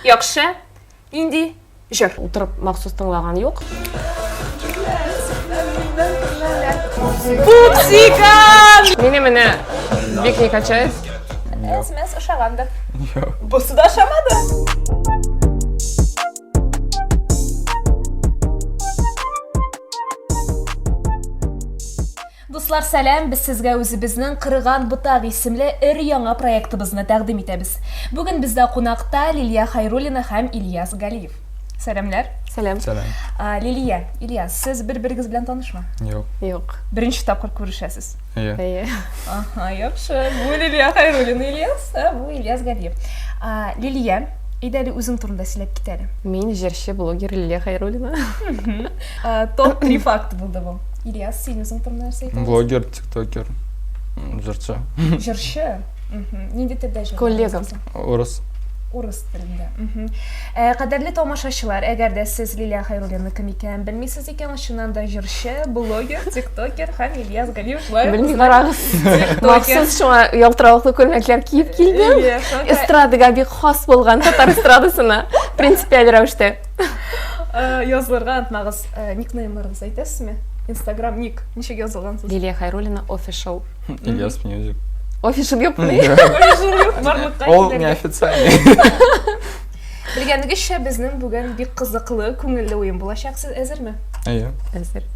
Яхшы. Нинди җыр? Утырып махсус тыңлаган юк. Пупсикан! Мине менә бик не качает. Смс ошагандыр. Бусы да ошамады. Дуслар сәлам, без сезгә үзебезнең Кырыган ботак исемле өр-яңа проектыбызны тәкъдим итәбез. Бүген бездә кунакта Лилия Хайруллина һәм Ильяс Галиев. Сәламләр. Сәлам. Сәлам. Лилия, Ильяс, сез бер-берегез белән танышмы? Юк. Юк. Беренче тапкыр күрешәсез. Әйе. Әйе. Аха, яхшы. Бу Лилия Хайруллина Ильяс, ә бу Ильяс Галиев. Лилия, әйдә әле үзең турында сөйләп кит әле. Мин җырчы, блогер Лилия Хайруллина. Топ 3 факт булды бу. Ильяс, син үзең турында нәрсә әйтә Блогер, тиктокер, җырчы. Җырчы? Нинди телдә җыр? Коллега. Урыс. Урыс телендә. Э, кадерле тамашачылар, әгәр дә сез Лилия Хайруллина кем икәнен белмисез икән, чыннан да җырчы, блогер, тиктокер һәм Ильяс Галиев шулай. Белми карагыз. Махсус шуңа ялтыравыклы күлмәкләр киеп килдем. Эстрадага бик хас булган татар эстрадасына принципиаль рәвештә. Э, язылырга онытмагыз. Э, никнеймларыгызды әйтәсезме инстаграм ник ничек язылгансыз лилия хайруллина офишл ильяс мьюзик офишл юк ол неофициальный белгәнегезчә безнең бүген бик кызыклы күңелле уен булачак сез әзерме әйе әзер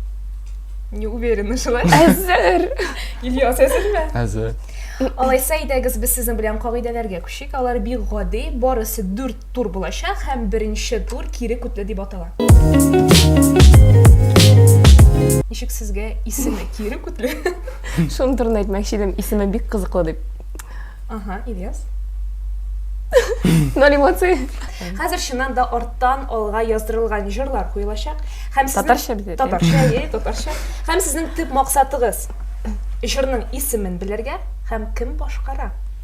не уверена шулай әзер ильяс әзерме әзер алайса әйдәгез без сезнең белән кагыйдәләргә күчик алар бик гади барысы дүрт тур булачак һәм беренче тур кире күтле дип атала. Ничек сезгә исеме кире күтле? Шуны турында әйтмәкче идем, исеме бик кызыклы дип. Ага, Ильяс. Ноль эмоций. Хәзер чыннан да арттан алга яздырылган җырлар куелачак. Һәм сезнең татарча бит. Татарча, е, татарча. Һәм сезнең төп максатыгыз җырның исемен белергә һәм кем башкара.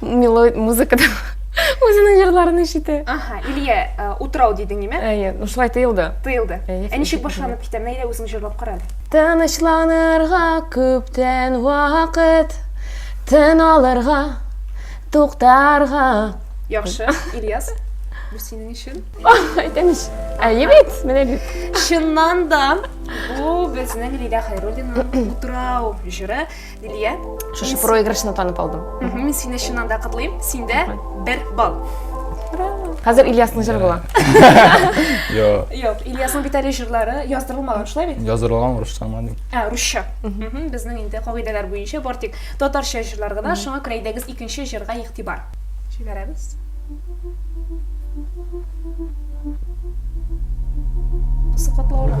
мелодия музыка Үзенең җырларын ишетә. Аха, Илья, э, утрау дидең ниме? Әйе, ну шулай тыелды. Тыелды. Ә ничек башланып китә? Менә Илья үзең җырлап кара әле. Тынычланырга күптән вакыт, тын алырга, туктарга. Яхшы, Ильяс, бу синең өчен. Әйтәм ич. Әйе бит, менә бит. Чыннан да, бу безнең Лилия Хайруллина утрау җыры. Лилия. Шушы проигрышны танып алдым. Мин сине чыннан да котлыйм. Синдә бер балл. Хәзер Ильясның җыры була. Йо. Юк, Ильясның бит әле җырлары яздырылмаган, шулай бит? Яздырылган русча гына ди. Ә, русча. Безнең инде кагыйдәләр буенча бар тик татарча җырлар гына. Шуңа күрә әйдәгез икенче җырга игътибар. Җибәрәбез. Сыкатлаурак.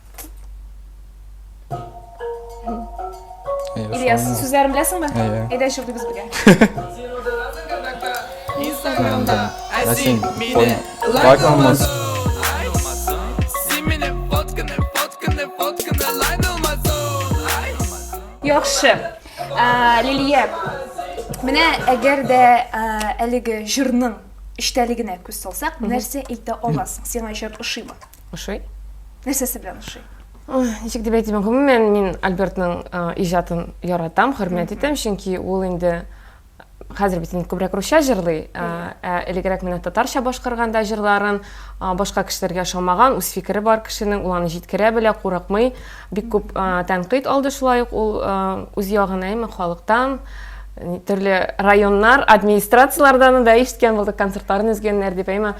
Ильяс, сүзләрен беләсеңме? Әйе. Әйдә җырлыйбыз бергә. Инстаграмда әсин мине лайкламас. Яхшы. Лилия, менә әгәр дә әлеге җырның эчтәлегенә күз салсак, нәрсә әйтә аласың? Сиңа җыр ошыймы? Ошый? Нәрсәсе белән ошый? Ничек дип әйтим, гомумән мин Альбертның иҗатын яратам, хөрмәт итәм, чөнки ул инде хәзер бит инде күбрәк русча җырлый, ә элегрәк менә татарча башкарганда җырларын башка кешеләргә ошамаган, үз фикере бар кешенең, ул аны җиткерә белә, курыкмый. Бик күп тәнкыйть алды шулай ук ул үз ягына әйме халыктан, төрле районнар, администрацияләрдән дә ишеткән булдык, концертларын өзгәннәр дип әйме.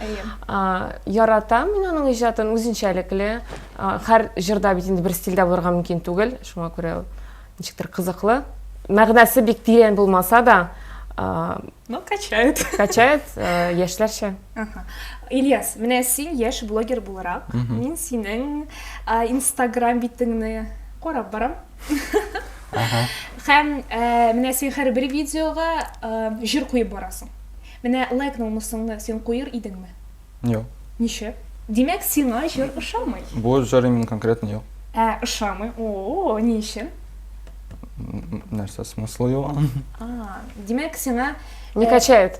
Яратам мин аның иҗатын, үзенчәлекле. Һәр җырда бит инде бер стильдә булырга мөмкин түгел, шуңа күрә ул ничектер кызыклы. Мәгънәсе бик тирән булмаса да, но качает. Качает яшьләрчә. Ага. Ильяс, менә син яшь блогер буларак, мин синең Instagram битеңне карап барам. Ага. Һәм менә син һәрбер видеога җыр куеп барасың. Менә лайк номусыңны син куер идеңме? Юк. Ничә? Димәк, сиңа җыр ошамый. Бу җыр именно конкретно юк. Ә, ошамый. О, ни өчен? Нәрсә смыслы юк? А, димәк, сиңа не качает.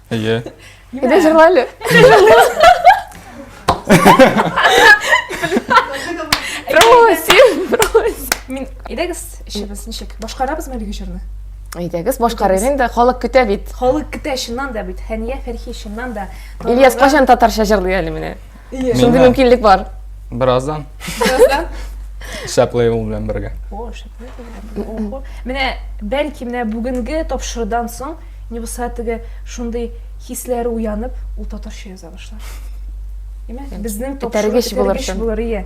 Әйе. Әйдә җырла әле. Просим, просим. Мин, әйдәгез, эшебез ничек? Башкарабыз мә әлеге җырны? Әйдәгез, башкарыйк инде, халык көтә бит. Халык көтә чыннан да бит. Хәния Фәрхи чыннан да. Ильяс кайчан татарча җырлый әле менә? Ие. Шундый Миңа- мөмкинлек бар. Бераздан Бераздан. шәп лейбл белән бергә. О, шәпле булды. Ого. Менә бәлки менә бүгенге тапшырудан соң не булса теге шундый хисләре уянып, ул татарча яза башлар. Имә, безнең тапшыру Этәргеч булыр бетерегеч шул. булыр, ие.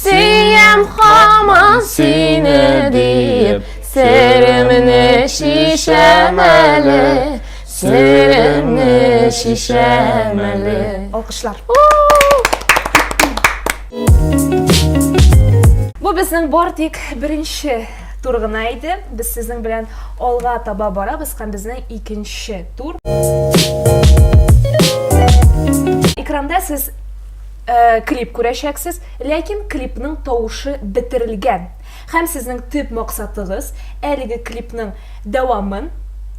Сөям хаман сине диеп, Серемне шишәм әле, Серемне шишәм әле. Алкышлар. Бу безнең бар тик беренче тур гына иде. Без сезнең белән алга таба барабыз һәм безнең икенче тур. Экранда сез Э, клип күрәчәксез, ләкин клипның тавышы бетерелгән. Һәм сезнең төп максатыгыз әлеге клипның дәвамын,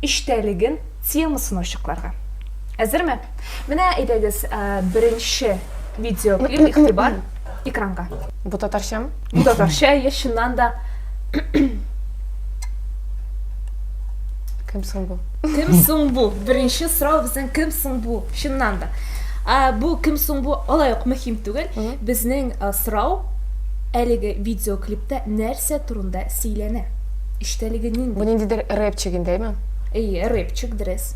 эчтәлеген, темасын ачыкларга. Әзерме? Менә әйдәгез, э, беренче видеоклип, игътибар, экранга. Бу татарчамы? Ну, татарча я чыннан да Кем соң бу? Кем соң бу? Беренче сорау безнең кем соң бу? Чыннан да. А, бу кем соң бу? Алай ук мөһим түгел. Безнең сорау әлеге видеоклипта нәрсә турында сөйләнә? Эчтәлеге нинди? Бу ниндидер рэпчик индеме? Әйе, рэпчик дөрес.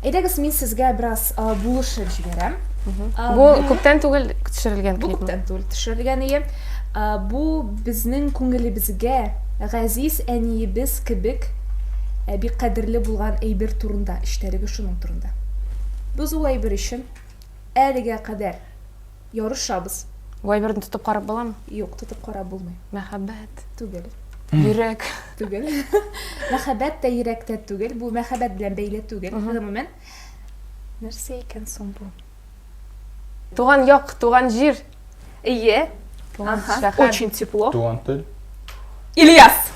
Әйдәгез, мин сезгә бераз булышып җибәрәм. Бу күптән түгел төшерелгән клип. Бу күптән түгел төшерелгән ие. Бу безнең күңелебезгә газиз әниебез кебек бик кадерле булган әйбер турында, эчтәлеге шуның турында. Без ул әйбер өчен әлегә кадәр Ярышабыз. Вайберны тотып карап буламы? Юк, тотып карап булмый. Мәхәббәт. Түгел. Йөрәк. Түгел. Мәхәббәт тә йөрәктә түгел. Бу мәхәббәт белән бәйле түгел. Гомумән. Нәрсә икән соң бу? Туган як, туган җир. Ие. Туган шәһәр. Очень тепло. Туган тел. Ильяс!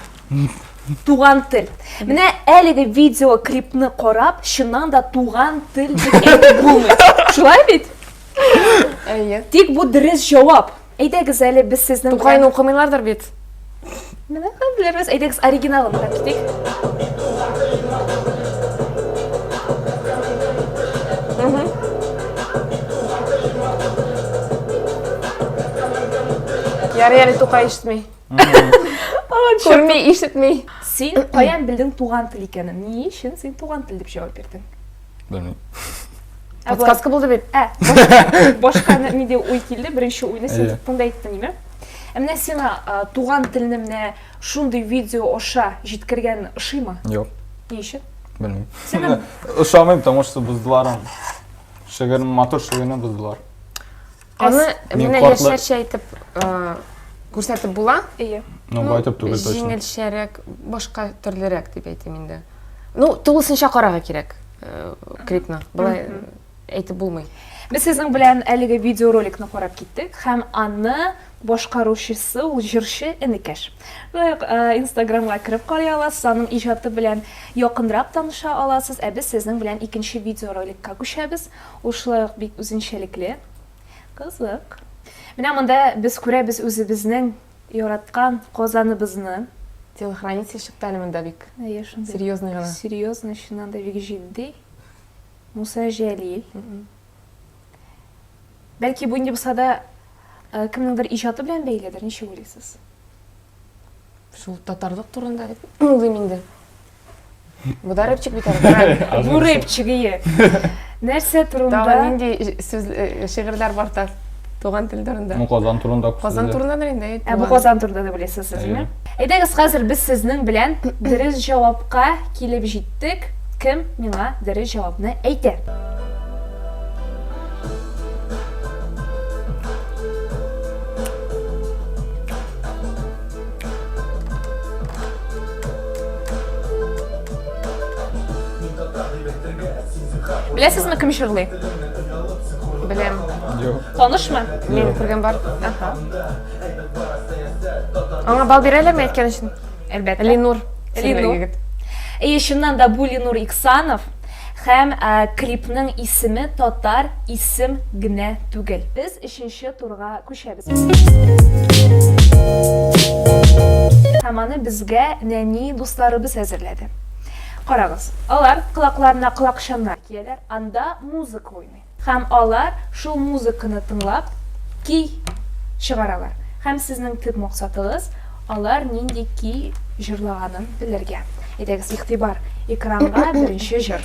Туган тел. Менә әлеге видеоклипны карап, чыннан да туган тел дип әйтеп булмый. Шулай бит? Әйе. Тик бу дөрес җавап. Әйдәгез әле без сезнең Тукайны укымыйлардыр бит. Менә хәзербез әйдәгез оригиналын карап китик. Ярый әле Тукай ишетми. Күрми, ишетми. Син каян белдең туган тел икәнен? Ни өчен син туган тел дип җавап бирдең? Белмим. Ә болай- Подсказка булды бит. Ә, баш- башка ни- ниндәй уй килде? Беренче уйны син Әйе. тыңда әйттең, име? Ә менә сиңа а, туган телне менә шундый видео аша җиткергән ошыймы? Юк, Ни өчен? белмим. Сиңа Ошамыйм, потому что боздылар аны. Шигырь, матур шигырьне боздылар. Аны менә яшьләрчә әйтеп күрсәтеп була? Әйе. Ну, бу әйтеп түгел точно. Җиңелчәрәк, башка төрлерәк дип әйтим инде. Ну, тулысынча карарга кирәк э, клипны. Былай әйтеп булмый. Без сезнең белән әлеге видеороликны карап киттек һәм аны башкаручысы ул җырчы Энекәш. Лайк э, Инстаграмга кереп карый аласыз, аның иҗаты белән якынрак таныша аласыз. Ә без сезнең белән икенче видеороликка күчәбез. Ул шулай ук бик үзенчәлекле. Кызык. Менә монда без күрәбез үзебезнең яраткан Казаныбызны. Телохранитель чыкты әле монда бик. Әйе, шундый. Серьезный гына. Серьезный, чыннан да бик җитди. Муса Җәлил. Бәлки бу инде булса да кемнеңдер иҗаты белән бәйледер, ничек уйлыйсыз? Шул татарлык турында дип уйлыйм инде. Бу да рэпчик бит әле. Бу рэпчик ие. Нәрсә турында? Тагы нинди сүз э, шигырьләр бар та туган тел турында? Ну, Казан турында. Казан турында да инде. Ә бу Казан турында да беләсез сезме? Әйдәгез, хәзер без сезнең белән дөрес җавапка килеп җиттек. Кем миңа дөрес җавапны әйтә? Беләсезме, кем җырлый? Беләм. Юк. Танышмы? Мин күргән бар. Аха. Аңа бал бирәләрме әйткән өчен? Әлбәттә. Ленур. Ленур. Әйе, чыннан да бу Ленур Иксанов һәм клипның исеме татар исем генә түгел. Без өченче турга төшәбез. Һәм аны безгә нәни дусларыбыз әзерләде. Карагыз, алар колакларына колакчаннар кияләр, анда музыка уйный. Һәм алар шул музыканы тыңлап ки чыгаралар. Һәм сезнең төп максатыгыз алар нинди ки җырлаганын белергә. Әйдәгез, игътибар, экранга беренче җыр.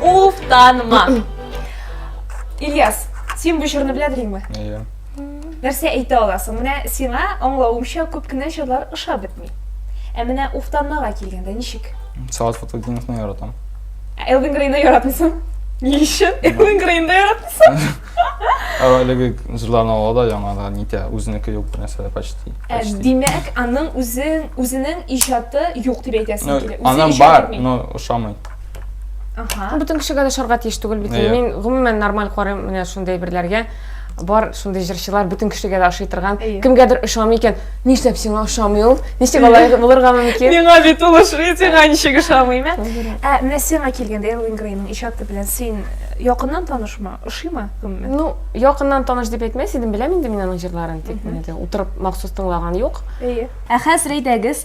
Уфтанма. Ильяс, син бу җырны беләдеңме? Әйе. Нәрсә әйтә аласың? Менә сиңа аңлавымча күп кенә җырлар ошап бетми. Ә менә уфтанмага килгәндә ничек? Салат Фатылдиновны яратам. Ә Элвин Грейны яратмыйсың? Ни өчен? Элвин Грейны яратмыйсың? Әлеге җырларны ала да яңа да нитә, үзенеке юк бер нәрсә почти. Ә, Димәк, аның үзен, үзенең иҗаты юк дип әйтәсең килә. Аның бар, но ошамый. Ага. Бөтен кешегә дә шарга тиеш түгел бит. Әйе. Мин гомумән нормаль карыйм менә шундый әйберләргә. Бар шундый җырчылар бөтен кешегә дә ошый торган. Әйе. Кемгәдер ошамый икән, нишләп сиңа ошамый ул? Ничек алай булырга мөмкин? Миңа бит ул ошый, сиңа ничек ошамый? Ә, ә менә сиңа килгәндә Элвин Грейның иҗаты белән син якыннан танышмы? Ошыймы? Гомумән. Ну, якыннан таныш дип әйтмәс идем, беләм инде мин аның җырларын, тик менә дә утырып махсус тыңлаган юк. Әйе. Ә хәзер әйдәгез,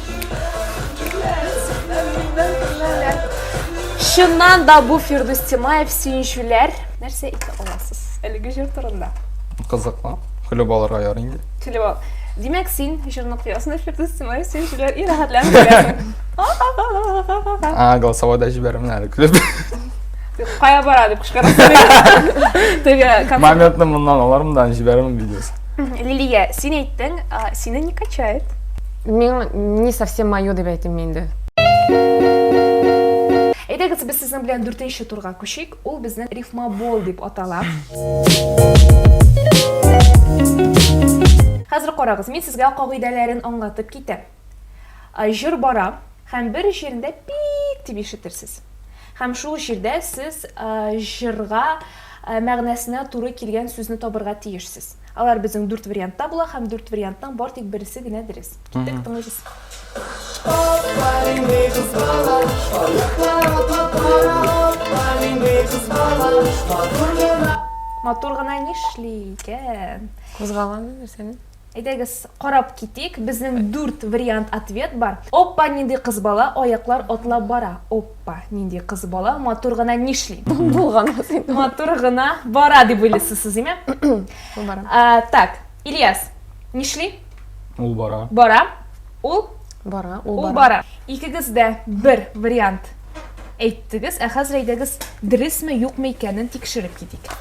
Чыннан да бу Фирдус Тимаев сөенчүләр. Нәрсә итә аласыз? Әлеге җыр турында. Кызыклы. Көлеп алырга ярый инде. Көлеп ал. Димәк, син җырны куясың, Фирдус Тимаев сөенчүләр и рәхәтләнеп көләсең. А, голосовойда җибәрәмен әле көлеп. Кая бара дип кычкырасың. Теге Моментны моннан алармын да җибәрәмен видеосын. Лилия, син әйттең, сине не качает. Мин не совсем мое дип әйтим инде. Әйдәгез, без сезнең белән дүртенче турга күчик. Ул безнең рифмабол дип атала. Хәзер карагыз, мин сезгә кагыйдәләрен аңлатып китәм. Җыр бара һәм бер җирендә пик дип ишетерсез. Һәм шул җирдә сез җырга мәгънәсенә туры килгән сүзне табырга тиешсез. Алар безнең дүрт вариантта була һәм дүрт вариантның бар тик бересе генә дөрес. Киттек, тыңлыйбыз. Аппа нинди кыз бала, аяклар атлап бара, аппа нинди кыз бала, матур гына. Матур гына нишли икән? Кузгалган нәрсәне. Әйдәгез, карап китик. Безнең дүрт вариант ответ бар. Оппа нинди кыз бала, аяклар атлап бара. Оппа. Аппа, нинди кыз бала, матур гына нишли? Булган син. Матур гына бара дип уйлыйсыз сез, име? Бара. А, так, Ильяс, нишли? Ул бара. Бара. Ул? Бара, ул бара. Ул бара. Икегез дә бер вариант әйттегез, ә хәзер әйдәгез, дөресме, юкмы икәнен тикшереп китик.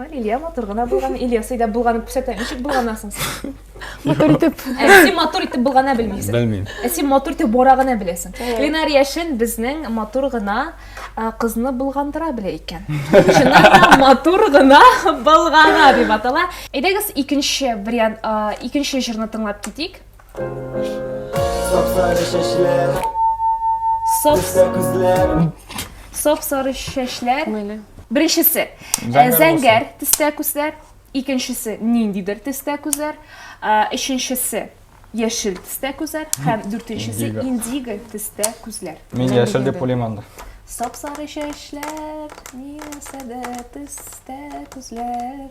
Лилия матур гына булган, Ильясый да булганын күрсәтә. Ничек булганасың син? Матур итеп. Ә син матур итеп булгана белмисең. Белмим. Ә син матур итеп бара гына беләсең. Ленар Яшин безнең матур гына кызны булгандыра белә икән. Чыннан да матур гына булгана дип атала. Әйдәгез икенче вариант, икенче җырны тыңлап китик. Сап-сары чәчләр, Сап, төстә күзләр. сап-сары чәчләр. Мыйлы. Беренчесе, Зәңгәр э, зәңгәр төстә күзләр. Икенчесе, ниндидер төстә күзләр. Э, Өченчесе, яшел төстә күзләр. Һәм дүртенчесе, Индиго. индиго төстә күзләр. Мин Менә яшел дигән дип уйлыйм анда. Сап-сары чәчләр, миләсәдә төстә күзләр.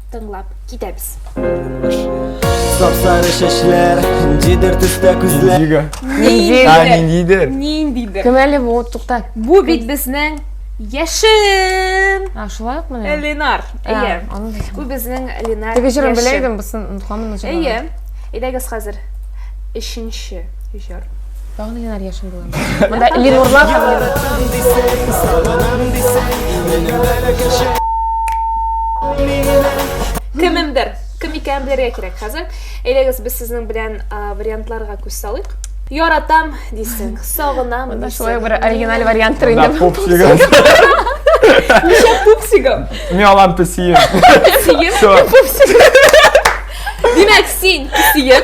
тыңлап китәбез. Сап-сары чәчләр, ниндидер төстә күзләр. Ниндига? Ниндидер. А, ниндидер. Ниндидер. Кем әле бу? Тукта. Бу бит безнең Яшен! А, шулай ук менә? Ленар. Әйе. Бу безнең Ленар. Теге җырын белә идем, бусын онытамын. Әйе. Әйдәгез хәзер. Өченче. Җыр. Тагын генә яшен булам. Монда Ленурлар һәм Кемемдер, кем икәнен белергә кирәк хәзер. Әйдәгез, без сезнең белән вариантларга күз салыйк. Яратам дисең, сагынам дисең. Монда шулай бер оригиналь вариант тор инде. Пупсигым. Ничә пупсигым? Мин алам песием. Песием? Пупсигым. Димәк, син песием.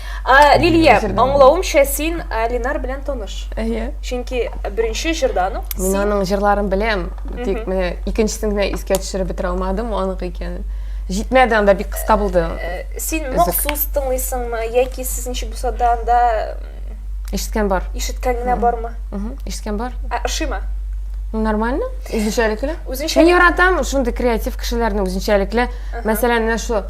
А, Лилия, аңлавымча син Алинар белән таныш. Әйе. Чөнки беренче җырдан ук Мин аның җырларын беләм, тик менә икенчесен генә искә төшереп бетерә алмадым, анык икәнен. Җитмәде, анда бик кыска булды. Э, син махсус тыңлыйсыңмы яки сезничә булса да анда Ишеткән бар. ишеткән генә бармы? Мгм, Ишеткән бар. Ә ошыймы? Нормально, үзенчәлекле. Үзенчәлекле. Мин яратам шундый креатив кешеләрне үзенчәлекле. Мәсәлән, менә шу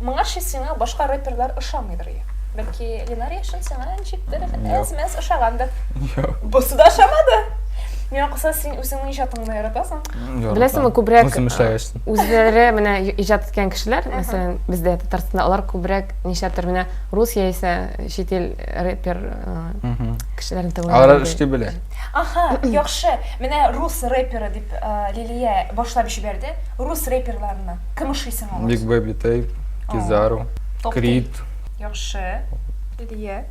Моңарчы сиңа башка рэперлар ошамыйдыр я. Бәлки Ленар яшен сиңа ничектер әз-мәз ошагандыр. Бусы да ошамады. Миңа калса син үзеңнең иҗатыңны яратасың. Беләсеңме, күбрәк үзләре менә иҗат иткән кешеләр, мәсәлән, бездә Татарстанда алар күбрәк нишләптер менә рус яисә чит ил рэпер кешеләрен тыңлый. Алар эшли белә. Аха, яхшы. Менә рус рэперы дип Лилия башлап җибәрде. Рус рэперларына. Кем ошый соң алар? Big Baby Tape, Kizaru, Creed. Яхшы. Лилия.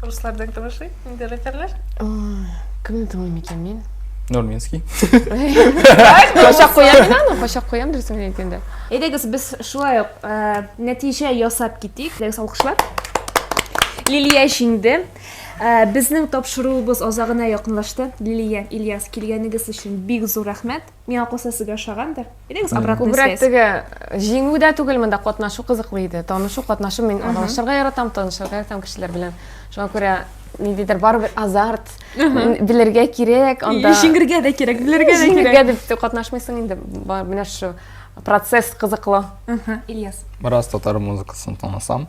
Руслардан кем ошый? Инде рэперлар? Кемне тыңлыйм икән мин? Нурминский. Качак куям мин аны, качак куям дөресен әйткәндә. Әйдәгез, без шулай ук нәтиҗә ясап китик. Әйдәгез, алкышлар. Лилия җиңде. Безнең тапшыруыбыз азагына якынлашты. Лилия, Ильяс, килгәнегез өчен бик зур рәхмәт. Миңа калса сезгә ошагандыр. Идегез обратный связь. Күбрәк теге җиңү дә түгел, монда катнашу кызыклы иде. Танышу, катнашу мин аралашырга яратам, танышырга яратам кешеләр белән. Шуңа күрә ниндидер барыбер азарт, белергә кирәк, анда җиңергә дә кирәк, белергә дә кирәк. Җиңергә дип катнашмыйсың инде, менә шушы процесс кызыклы. Ильяс. Бераз татар музыкасын танысам.